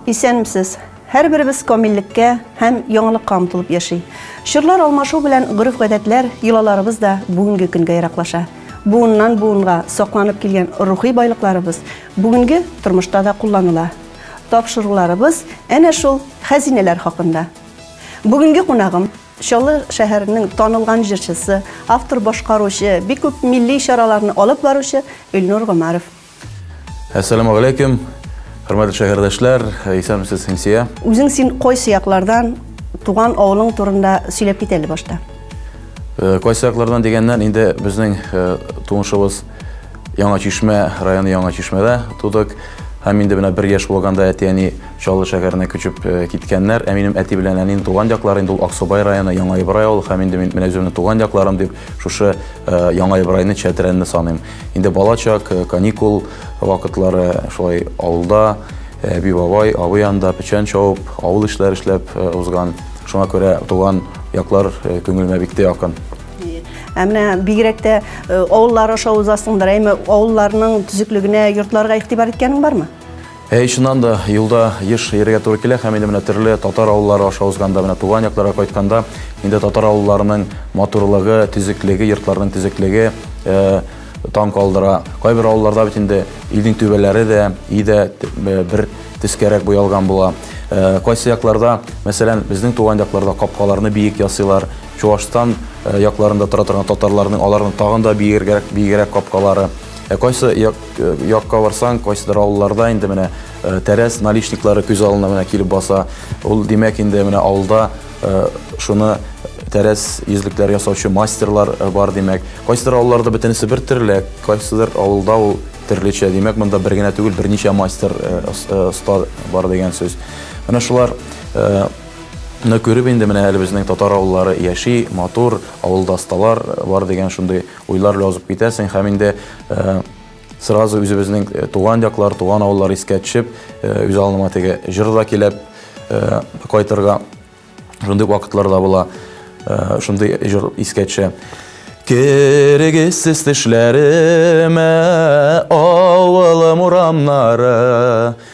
Исәнмесез. Һәрберебез камиллеккә һәм яңалыкка омтылып яши. Чорлар алмашу белән гореф-гадәтләр, йолаларыбыз да бүгенге көнгә яраклаша. Буыннан буынга сакланып килгән рухи байлыкларыбыз бүгенге тормышта да кулланыла. Тапшыруларыбыз әнә шул хәзинәләр хакында. Бүгенге кунагым Чаллы шәһәренең танылган җырчысы, автор башкаручы, бик күп милли чараларны алып баручы Илнур Гомаров. Әссәламу галәйкем, хөрмәтле шәһәрдәшләр, исәнмесез Хинсия. Үзең син кайсы яклардан, туган авылың турында сөйләп кит әле башта. Э, кайсы яклардан дигәннән, инде безнең э, туңышыбыз Яңа Чишмә районы Яңа Чишмәдә тудык. Һәм инде менә бер яшь булганда әти-әни Чаллы шәһәренә күчеп э, киткәннәр. Ә минем әти белән әнинең туган яклары инде ул Аксубай районы, Яңа Ибрай авылы һәм инде мин менә үземнең туган якларым дип шушы э, Яңа Ибрайны Чәтрәнне саныйм. Инде балачак, э, каникул вакытлары шулай авылда, әби бабай, абый янында печән чауып, авыл эшләре эшләп узган. Шуңа күрә туган яклар күңелемә бик тә якын. Ә менә бигрәк тә э, авыллар аша узасыңдыр, әйме авылларның төзеклегенә, йортларга игътибар иткәнең бармы? Әй, чыннан да, юлда еш йөрергә туры килә һәм инде менә төрле татар авыллары аша узганда, менә туган якларга кайтканда, инде татар авылларының матурлыгы, төзеклеге, йортларының төзеклеге э, таң калдыра. Кайбер авылларда бит инде илнең түбәләре дә, и дә э, бер төскәрәк буялган була. Э, кайсы якларда, мәсәлән, безнең туган якларда капкаларны биек ясыйлар, Чуашстан якларында тора торган татарларның аларның тагын да биегрәк, биегрәк капкалары. Ә кайсы як, якка барсаң, кайсыдыр авылларда инде менә тәрәз наличниклары күз алына менә килеп баса. Ул димәк инде менә авылда шуны тәрәз йөзлекләр ясаучы мастерлар бар димәк. Кайсыдыр авылларда бөтенесе бер төрле, кайсыдыр авылда ул төрлечә. Димәк, монда бер генә түгел, берничә мастер оста бар дигән сүз. Менә шулар Ны күреп инде менә әле безнең татар авыллары яши, матур, авылда осталар бар дигән шундый уйлар белән узып китәсең һәм инде сразу үзебезнең туган яклар, туган авыллар искә төшеп, үз алыныма теге җыр да килеп кайтырга шундый вакытлар да була. Шундый җыр искә төшә. Кергесез төшләремә авылым урамнары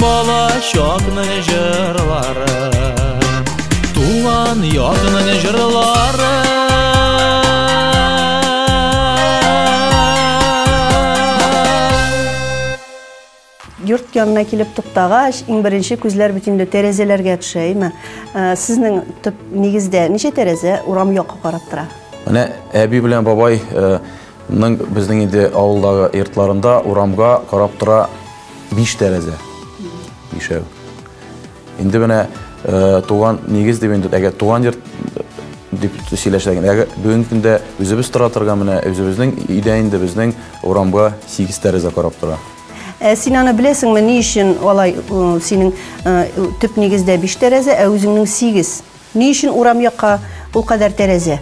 балачакны җырлары туган якның җырлары йорт янына килеп туктагач иң беренче күзләр бит инде тәрәзәләргә төшә әйме э, сезнең төп нигездә ничә тәрәзә урам якка карап тора менә әби белән бабай э, Ның безнең инде авылдагы йортларында урамга карап тора Биш тәрәзә. Бишәү. Инде менә э, туган нигез дип инде, әгәр туган йорт э, дип сөйләшәгән. Әгәр бүгенге көндә үзебез тора торган менә үзебезнең өйдә инде безнең урамга 8 тәрәзә карап тора. Ә син аны беләсеңме, ни өчен алай синең төп нигездә биш тәрәзә, ә үзеңнең сигез? Ни өчен урам якка ул кадәр тәрәзә?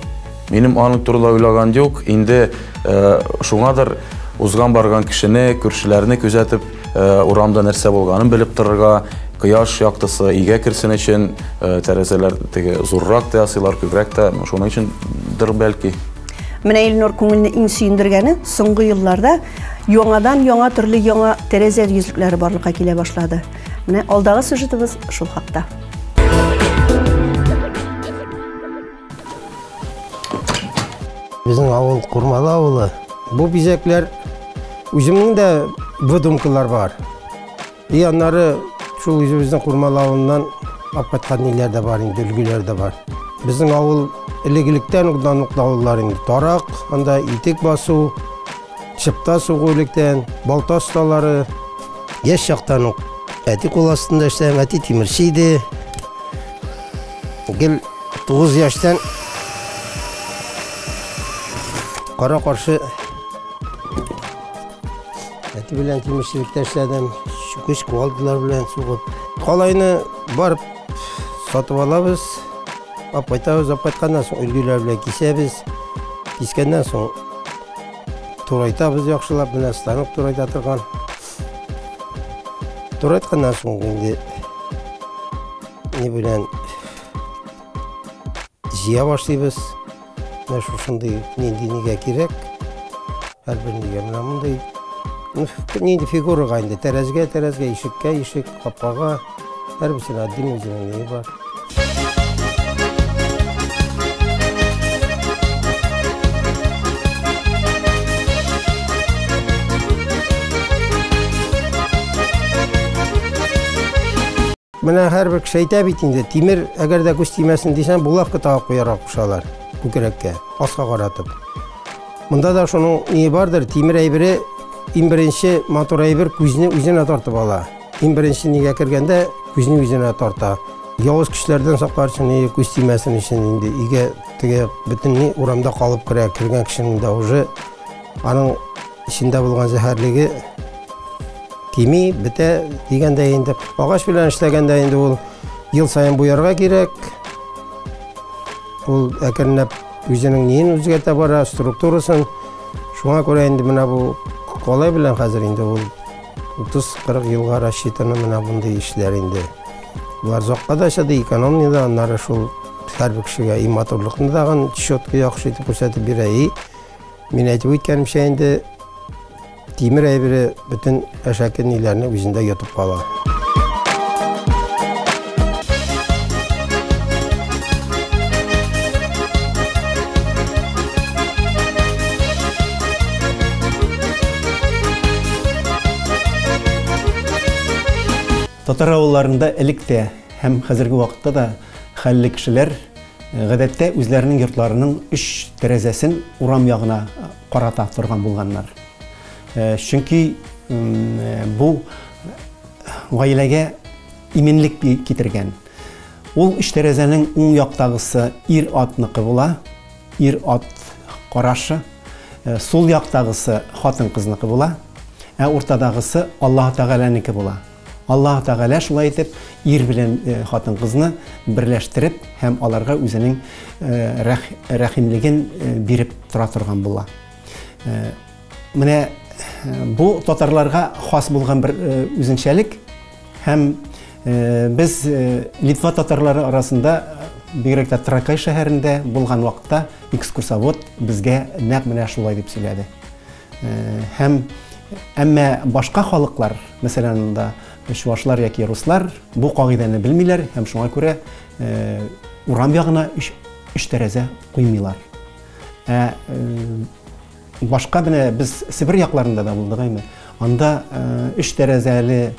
Минем аның турыда уйлаган юк, инде шуңадыр узган барган кешене, күршеләрне күзәтеп, урамда нәрсә булганын белеп торырга, кояш яктысы өйгә керсен өчен, тәрәзәләр теге зуррак та ясыйлар, күбрәк тә, шуның өчендер бәлки. Менә Илнур күңелне иң сөендергәне, соңгы елларда яңадан яңа төрле яңа тәрәзә йөзлекләре барлыкка килә башлады. Менә алдагы сюжетыбыз шул хакта. Безнең авыл Курмалы авылы. Бу бизәкләр үземнең дә выдумкалар бар. И аннары шул үзебезнең Курмалы авылыннан алып кайткан ниләр дә бар инде, өлгеләр дә бар. Безнең авыл элек-электән ук данлыклы авыллар инде. Тарак, анда итек басу, Чыпта сугу электән, балта осталары. Яшь чактан ук әти кул астында эшләгән, әти тимерче иде. Гел 9 яшьтән кара каршы әти белән тимерчелектә эшләдем. Чүкеч куалдылар белән сугып. Калайны барып сатып алабыз. Апайтабыз, апайтканнан соң өлгеләр белән кисәбез. Кискәннән соң Турайтабыз яхшылап, менә станок турайта торган. Турайтканнан соң инде не белән җыя башлыйбыз. Менә шушындый нинди нигә кирәк. Һәрбер нигә менә мондый. Нинди фигурага инде, тәрәзгә, тәрәзгә, ишеккә, ишек, капкага. Her bir şeyin adının özünün neyi var? Менә һәрбер кеше әйтә бит инде, тимер, әгәр дә күз тимәсен дисәң, булавка тагып куярга кушалар күкрәккә, аска каратып. Монда да шуның ни бардыр, тимер әйбере иң беренче матур әйбер күзне үзенә тартып ала. Иң беренче нигә кергәндә күзне үзенә тарта. Явыз көчләрдән саклар өчен и күз тимәсен өчен инде иге теге бөтенләй урамда калып керә, кергән кешенең дә уже аның эчендә булган зәһәрлеге кими, бетә дигәндә инде. Агач белән эшләгәндә инде ул ел саен буярга кирәк. Ул әкренләп үзенең ниен үзгәртә бара, структурасын. Шуңа күрә инде менә бу калай белән хәзер инде ул 30-40 елга рассчитаны менә мондый эшләр инде. Болар зокка да чыды, экономия да, аннары шул һәрбер кешегә и матурлыкны тагын четко яхшы итеп күрсәтеп бирә. И мин әйтеп үткәнемчә инде тимер әйбере бөтен әшәке ниләрне үзендә йотып кала. Татар авылларында элек тә һәм хәзерге вакытта да хәлле кешеләр э, гадәттә үзләренең йортларының өч тәрәзәсен урам ягына э, карата торган булганнар. Э, чөнки бу гаиләгә иминлек китергән. Ул өч тәрәзәнең уң яктагысы ир-атныкы була, ир-ат карашы, э, сул яктагысы хатын-кызныкы була, ә уртадагысы Аллаһ Тәгаләнеке була. Аллаһ Тәгалә шулай итеп ир белән э, хатын-кызны берләштереп һәм аларга үзенең э, рәхимлеген биреп тора торган була. Менә бу татарларга хас булган бер үзенчәлек һәм без Литва татарлары арасында бигрәк тә Тракай шәһәрендә булган вакытта экскурсовод безгә нәкъ менә шулай дип сөйләде. Һәм әмма башка халыклар, мәсәлән, анда чувашлар яки руслар бу кагыйдәне белмиләр һәм шуңа күрә урам ягына өч тәрәзә куймыйлар. Ә Башка менә без Себер якларында да булдык әйме. Анда өч тәрәзәле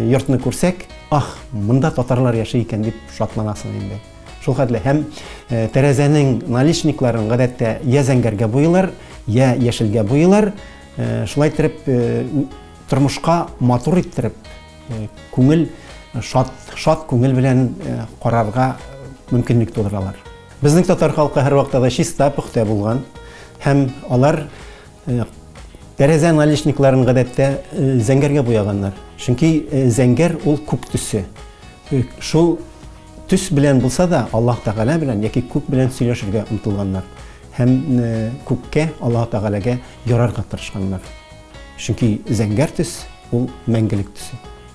йортны күрсәк, ах, монда татарлар яши икән дип шатланасың инде. Шул хәтле һәм тәрәзәнең наличникларын гадәттә я зәңгәргә буйлар, я яшелгә буйлар. Шулай итеп тормышка матур иттереп, күңел шат, шат күңел белән карарга мөмкинлек тудыралар. Безнең татар халкы һәрвакта да чиста, пөхтә булган һәм алар тәрәзә наличникларын гадәттә зәңгәргә буяганнар. Чөнки зәңгәр ул күк төсе. Шул төс белән булса да, Аллаһ Тәгалә белән яки күк белән сөйләшергә омтылганнар һәм күккә, Аллаһ Тәгаләгә ярарга тырышканнар. Чөнки зәңгәр төс ул мәңгелек төсе.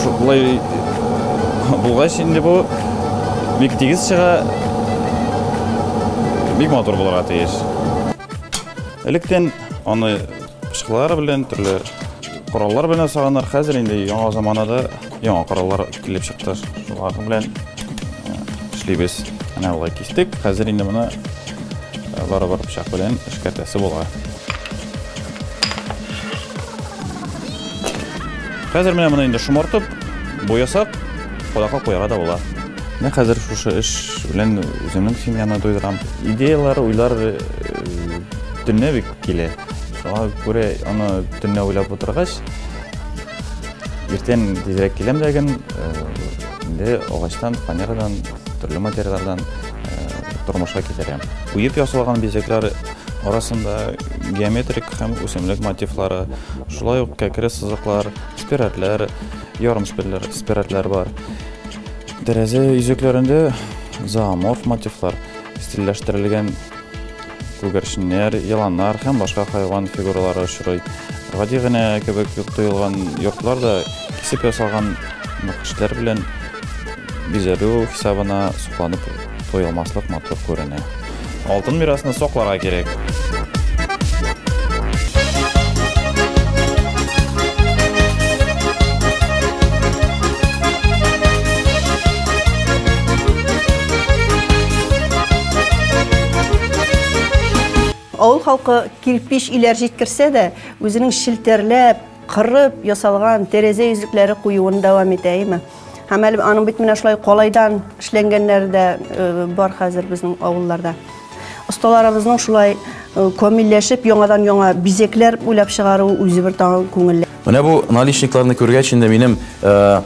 Шулай булгач инде бу бик тигез чыга, бик матур булырга тиеш. Электен аны пычкылар белән, төрле кораллар белән саганар. Хәзер инде яңа заманада Яңа кораллар килеп чыкты. Шулар белән э, эшлибез. Менә болай кистек. Хәзер инде моны э, барыбер пычак белән эшкәртәсе була. Хәзер менә моны инде шомартып, буясак, кодакка куярга да була. Менә хәзер шушы эш белән үземнең семьяны туйдырам. Идеялар, уйлар э, төнлә бик килә. Шуңа күрә аны төнлә уйлап утыргач, Иртән тизрәк киләм дә гем, инде агачтан, фанерадан, төрле материаллардан тормышка китерәм. Уеп ясалган бизәкләр арасында геометрик һәм үсемлек мотивлары, шулай ук кәкре сызыклар, спиратлар, ярым спиратлар бар. Тәрәзә йөзекләрендә зооморф мотивлар стильләштерелгән күгәрченнәр, еланнар һәм башка хайван фигуралары очрый. Гади генә кебек тоелган йортлар да кисеп ясалган нәкышләр белән бизәлү хисабына сокланып туелмаслык матур күренә. Алтын мирасны сакларга кирәк. Авыл халкы кирпич иләр җиткерсә дә, үзенең челтәрләп, кырып ясалган тәрәзә йөзлекләре куюын дәвам итә, әйме? Һәм әле аның бит менә шулай калайдан эшләнгәннәре дә э, бар хәзер безнең авылларда. Осталарыбызның шулай э, камилләшеп, яңадан яңа бизекләр уйлап чыгаруы үзе бер тагын күңелле. Менә бу наличникларны күргәч инде минем э,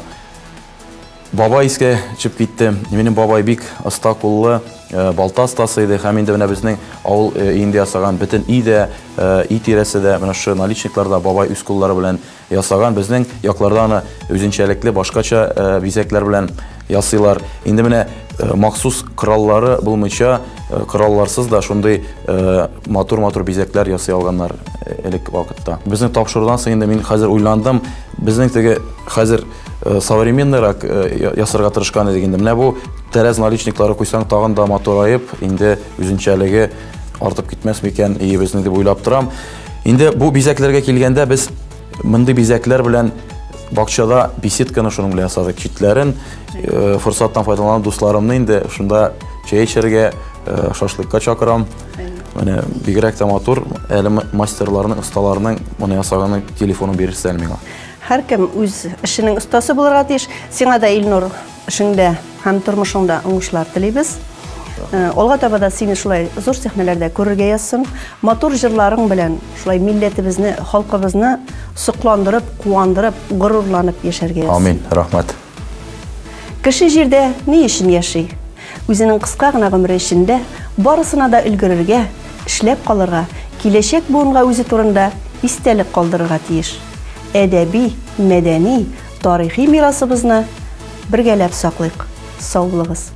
Бабай искә төшеп китте. Минем бабай бик оста куллы, балта остасы иде һәм инде менә безнең авыл өендә ясаган бөтен өй дә, өй тирәсе дә, менә шушы наличниклар да бабай үз куллары белән ясаган. Безнең якларда аны үзенчәлекле, башкача бизәкләр белән ясыйлар. Инде менә махсус кораллары булмыйча, коралларсыз да шундый матур-матур бизәкләр ясый алганнар элек вакытта. Безнең тапшырудан соң инде мин хәзер уйландым, безнең теге хәзер, Э, современныйрак э, ясарга тырышкан идек инде. Менә бу тәрәз наличниклары куйсаң, тагын да матураеп, инде үзенчәлеге артып китмәс микән иебезне дип уйлап торам. Инде бу бизәкләргә килгәндә без мондый бизәкләр белән бакчада беседканы шуның белән ясадык. Читләрен э, форсаттан файдаланып дусларымны инде шунда чәй эчәргә, шашлыкка чакырам. Менә бигрәк тә матур, әле мастерларның, осталарның моны ясаганын телефонын бирерсез әле миңа. Һәркем үз эшенең остасы булырга тиеш. Сиңа да, Илнур, эшеңдә һәм тормышыңда уңышлар телибез. Э, алга таба да сине шулай зур сәхнәләрдә күрергә язсын. Матур җырларың белән шулай милләтебезне, халкыбызны сокландырып, куандырып, горурланып яшәргә язсын. Амин. Рәхмәт. Кеше җирдә ни өчен яши? Үзенең кыска гына гомере эчендә барысына да өлгерергә, эшләп калырга, киләчәк буынга үзе турында истәлек калдырырга тиеш. Әдәби, мәдәни, тарихи мирасыбызны бергәләп саклыйк. Саулыгыз.